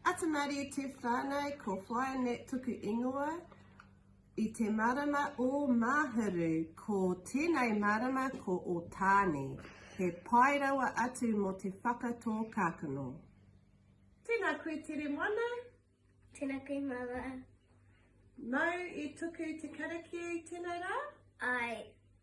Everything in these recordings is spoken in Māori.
Atu Marie Te Whanau Ko Flyanet toku ingoa I te marama o Mahuru Ko tenei marama ko Otaani He pai rawa atu mo te whakatō kakano. Tēnā koe Tere Moana. Tēnā koe Māmā. Mau i tuku te karakia i tēnei rā? Āe.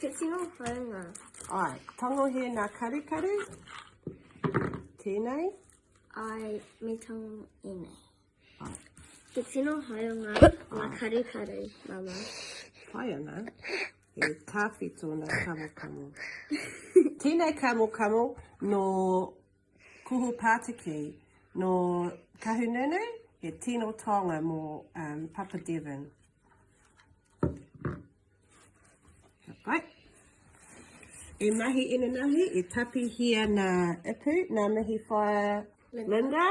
Te tino whaunga. Ai, tangohē nā karukaru. Tēnei. Ai, me tango e nei. Ai. Te tino haunga nā karukaru, mama. Pai ana. E tāwhi tōna kamokamo. Tēnei kamokamo nō kuhu pātiki nō Kahungunu, he tino taonga mō um, Papa Devon. Right. E mahi inanahi, e tapihia nā Ipu, nā Mihi Whaia Linda. Linda.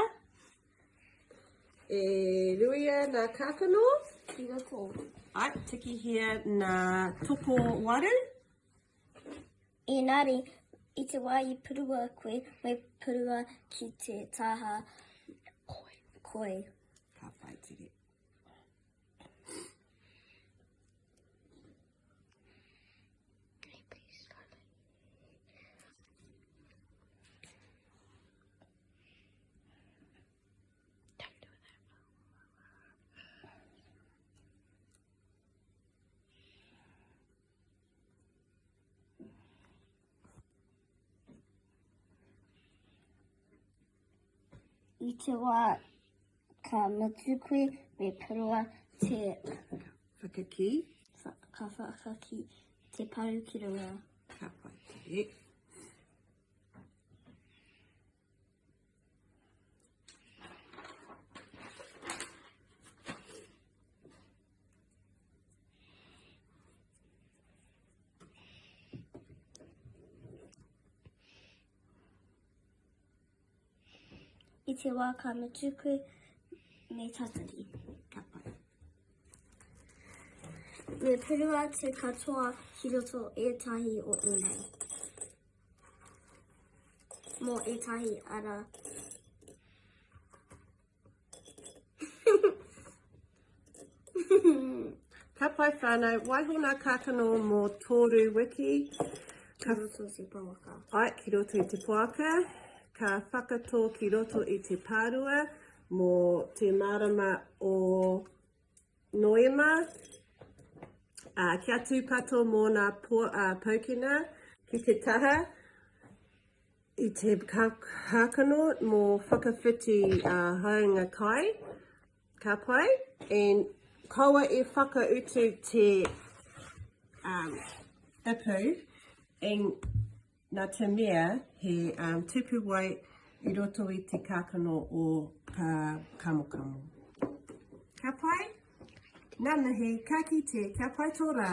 E ruia nā Kākano. Ki roto. Ai, tikihia nā Toko Waru. Ēngari, i te wā i purua koe, me purua ki te taha koi. koi. Ka whai tere. I te wā ka mutu koe me paroa te whakaki. Ka whakaki te paru ki runga. Ka pai te. i te wā ka mutu koe me tatari. Me purua te katoa ki roto ētahi o ēnei. mō ētahi ara. Ka pai whānau, waiho nā kākano mō tōru wiki. Ka roto te poaka. Ai, ki roto i te poaka. Ka whakatō ki roto i te pārua mō te mārama o Noema, ā, kia tūpato mōna poukina ki te taha i te kākano mō whakawhiti hāunga kai, ka pai, and kaua e whakautu te ipu, and. Nā te mea he tupu wai i roto i te kākano o kā kamokamo. Ka pai? Nanahi, ka kite, kia pai tō rā!